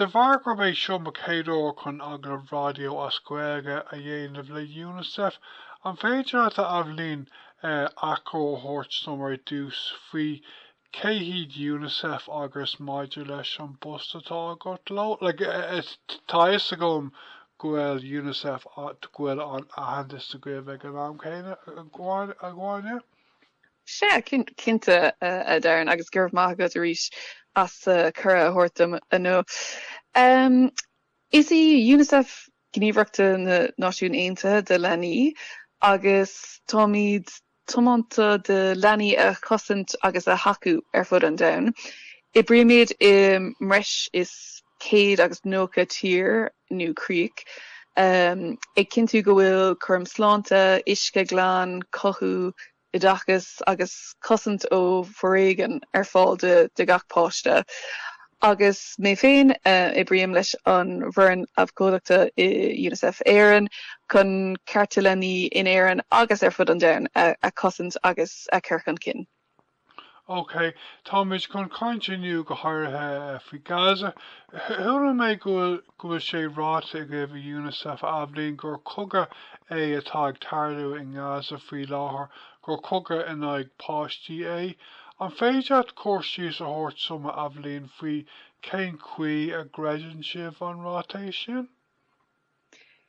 De bharr gurb é seo mo chéad uair chun agallamh raidió as Gaeilge a dhéanamh le Unicef, an féidir leat a Eibhlín, eh, achoimre a thabhairt dom ar dtús faoi cé hiad Unicef agus maidir leis an bpost atá agat leo? Like, eh, eh, tá a fhios agam go bhfuil Unicef, go bhfuil an-aitheantas againn ag an am céanna againne? Sea, cinnte, a Darren, agus go raibh maith agat arís as an gcuireadh a thabhairt dom inniu. Is í Unicef Gníomhaireacht na Náisiún Aontaithe do Leanaí agus táimid tiomanta do leanaí a chosaint agus a thacú ar fud an domhain. Oibrímid i mbreis is céad agus nócha tír nó críoch, ag cinntiú go bhfuil cúram sláinte, uisce glan, cothú, oideachas agus cosaint ó foréigean ar fáil do gach páiste. Agus mé féin, oibrím leis an bhfoireann abhcóideachta i Unicef Éireann chun cearta leanaí in Éirinn agus ar fud an domhain a chosaint agus a chur chun cinn. OK, táimid chun caint inniu go háirithe faoi Gaza. Chuala mé go bhfuil go bhfuil sé ráite agaibh i Unicef, a Eibhlín, gur cogadh é atá ag tarlú i nGaza faoi láthair, gur cogadh in aghaidh páistí é. An féidir leat cur síos a thabhairt dom, a Eibhlín, faoi cén chaoi a gcreideann sibh an ráiteas sin?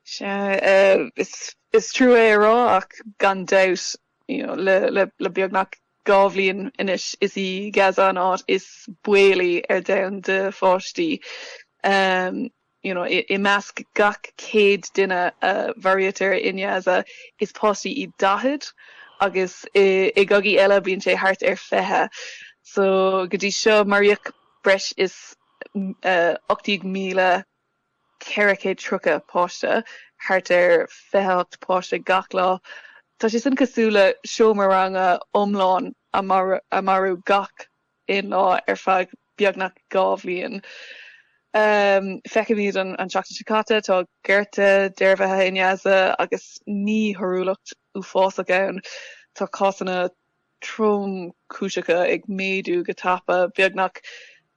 Sea, is trua é a rá ach gan dabht You know, le beagnach dhá bhliain anois, is í Gaza an áit is baolaí ar domhan do pháistí. You know, i measc gach 100 duine a mharaítear i nGaza, is páistí iad 40, agus i gcogaí eile bíonn sé thart ar 20. So go dtí seo, maraíodh breis is 18,000. 430 páiste, thart ar 28 páiste gach lá. Tá sé sin cosúil le seomra ranga iomlán a marú gach aon lá ar feadh beagnach dhá bhliain. Feicimid an tseachtain seo caite, tá gorta dearbhaithe i nGaza agus míchothúlacht uafásach ann. Tá cásanna tromchúiseacha ag méadú go tapa, beagnach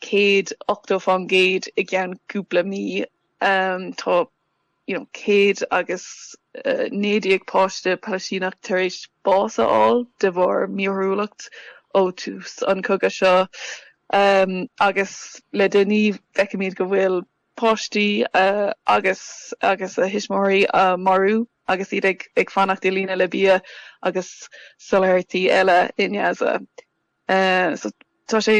céad ochtó faoin gcéad i gceann cúpla mí. Tá you know céad agus naoi déag páiste Palaistíneach tar éis bás a fháil de bharr míchothúlacht ó tús an cogadh seo agus le déanaí feicimid go bhfuil páistí agus agus a dtuismitheoirí á marú agus iad ag ag fanacht i líne le bia agus soláthairtí eile i nGaza. So tá sé,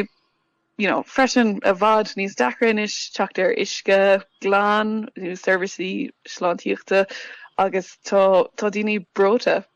you know, freisin i bhfad níos deacra anois teacht ar uisce glan nó seirbhísí sláintíochta agus tá tá daoine breoite.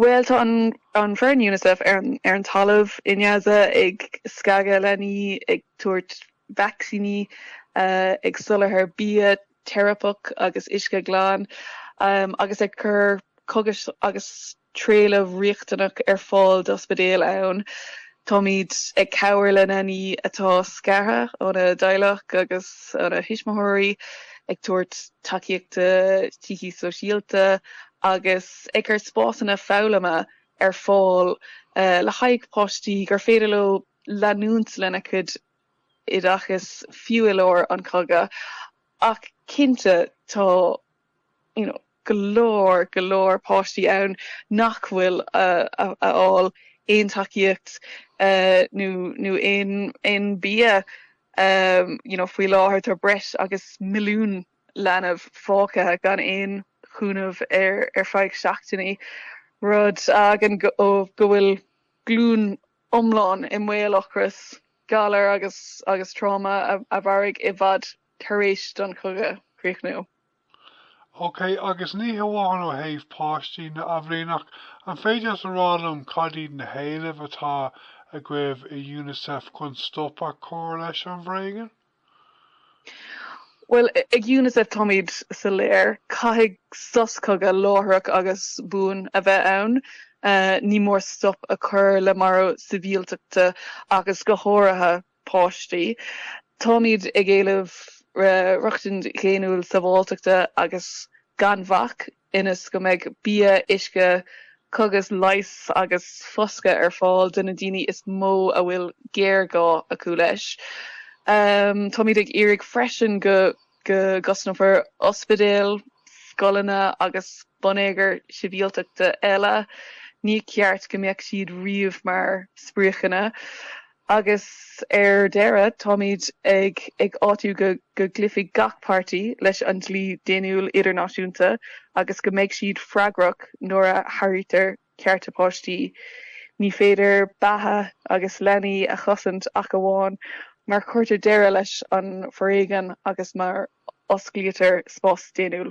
Bhuel, tá an foireann Unicef ar an talamh i nGaza ag scagadh leanaí, ag tabhairt vacsaíní, ag soláthar bia teiripeach agus uisce glan, agus ag cur cogais agus trealamh riachtanach ar fáil d'ospidéil ann. Táimid ag cabhair le leanaí atá scartha óna dteaghlach agus óna thuismitheoirí, ag tabhairt tacaíochta síceasóisialta agus ag cur spásanna foghlama ar fáil le haghaidh páistí gur féidir leo leanúint lena gcuid oideachais fiú i lár an chogaidh ach cinnte tá you know go leor, go leor páistí ann nach bhfuil ag fáil aon tacaíocht nó aon bia you know faoi láthair tá breis agus milliún leanbh fágtha gan aon chúnamh ar feadh seachtainí, rud a fhágann go bhfuil glúin iomlán i mbaol ocrais, galair agus tráma a mhairfidh i bhfad tar éis don chogadh críochnú. OK, agus ní hamháin ó thaobh páistí de a Aibhlín ach, an féidir leat a rá liom cad iad na héilimh atá agaibh i Unicef chun stop a chur leis an bhforéigean? Bhuel, ag Unicef táimid soiléir, caithfidh sos cogaidh láithreach agus buan a bheith ann. Ní mór stop a chur le marú sibhialtachta agus go háirithe páistí. Táimid ag éileamh rochtain dhaonnúil sábháilteachta agus gan bhac ionas go mbeidh bia, uisce, cogas, leigheas agus foscadh ar fáil do na daoine is mó a bhfuil géarghá acu leis. Táimid ag iarraidh freisin go gcosnófar ospidéil, scoileanna agus bonneagar sibhialtachta eile, ní ceart go mbeadh siad riamh mar spriocanna. Agus ar deireadh, táimid ag ag áitiú go go gcloífidh gach páirtí leis an dlí daonnúil idirnáisiúnta agus go mbeidh siad freagrach nuair a sháraítear cearta páistí. Ní féidir beatha agus leanaí a chosaint ach amháin mar chuirtear deireadh leis an bhforéigean agus mar osclaítear spás daonnúil.